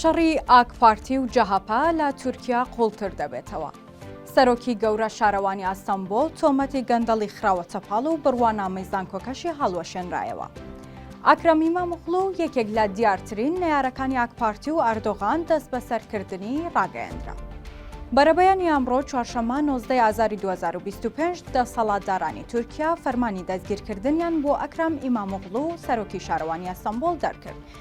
شەڕی ئاکپارتی و جەهەپە لە تورکیا قووڵتر دەبێتەوە. سەرۆکی گەورە شارەوانی ئەستەنبۆڵ تۆمەتی گەندەڵی خراوەتە پاڵ و بڕوانامەی زانکۆکەشی هەڵوەشێنرایەوە. ئەکرەم ئیماموغڵو یەکێک لە دیارترین نەیارەکانی ئاکپارتی و ئەردۆغان دەستبەسەرکردنی ڕاگەیەندرا. بەرەبەیانی ئەمڕۆ چوارشەممە نۆزدە ئازاری 2025 دەسەڵاتدارانی تورکیا فەرمانی دەستگیرکردنیان بۆ ئەکرەم ئیماموغڵو سەرۆکی شارەوانی ئەستەنبۆڵ دەرکرد،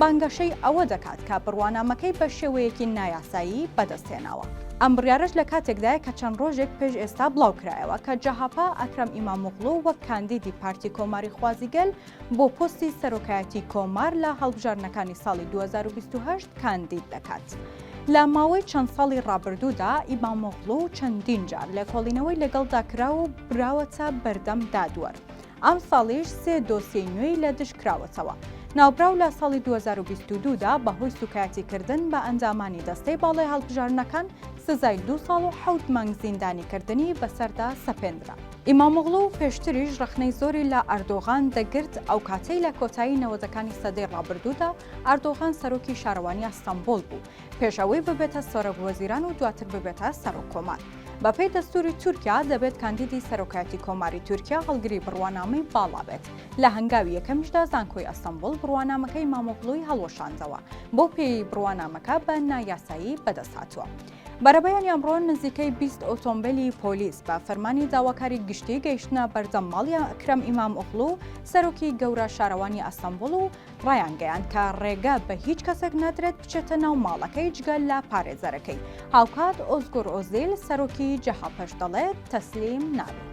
بانگەشەی ئەوە دەکات کە بڕوانامەکەی بە شێوەیەکی نایاسایی بەدەستهێناوە. ئەم بڕیارەش لە کاتێکدایە کە چەند ڕۆژێک پێش ئێستا بڵاوکرایەوە کە جەهەپە ئەکرەم ئیمامۆغڵو وەک کاندیدی پارتی کۆماریخوازی گەل بۆ پۆستی سەرۆکایەتی کۆمار لە هەڵبژاردنەکانی ساڵی دوو هەزار و بیست و هەشت کاندید دەکات. لە ماوەی چەند ساڵی ڕابردوودا ئیمامۆغڵو چەندین جار لێکۆڵینەوەی لەگەڵدا کراوە و براوەتە بەردەم دادوەر. ئەمساڵیش سێ دۆسیەی نوێی لە دژ کراوەتەوە. ناوبراو لە ساڵی دوو هەزار و بیست و دوو دا بەهۆی سووکایەتیکردن بە ئەندامانی دەستەی باڵای هەڵبژاردنەکان سزای دوو ساڵ و حەوت مانگ زیندانیکردنی بەسەردا سەپێندرا. ئیمامۆغڵو پێشتریش ڕەخنەی زۆری لە ئەردۆغان دەگرت، ئەو کاتەی لە کۆتایی نەوەدەکانی سەدەی ڕابردوودا ئەردۆغان سەرۆکی شارەوانی ئەستەنبوڵ بوو، پێش ئەوەی ببێتە سەرۆک وەزیران و دواتر ببێتە سەرۆک کۆمار. بەپێی دەستووری تورکیا، دەبێت کاندیدی سەرۆکایەتی کۆماری تورکیا هەڵگری بڕوانامەی باڵا بێت، لە هەنگاوی یەکەمیشدا زانکۆی ئەستەنبوڵ بڕوانامەکەی ئیمامۆغڵوی هەڵوەشاندەوە، بەو پێیەی بڕوانامەکە بە نایاسایی بەدەستهاتووە. بەرەبەیانی ئەمڕۆ نزیکەی بیست ئۆتۆمبێلی پۆلیس بە فەرمانی داواکاری گشتی گەیشتنە بەردەم ماڵی ئەکرەم ئیمامئۆغڵو، سەرۆکی گەورە شارەوانی ئەستەنبوڵ و ڕایانگەیاند کە ڕێگە بە هیچ کەسێک نادرێت بچێتە ناو ماڵەکەی جگە لە پارێزەرەکەی هاوکات ئۆزگور ئۆزیل سەرۆکی جەهەپەش دەڵێت تەسلیم نابێت.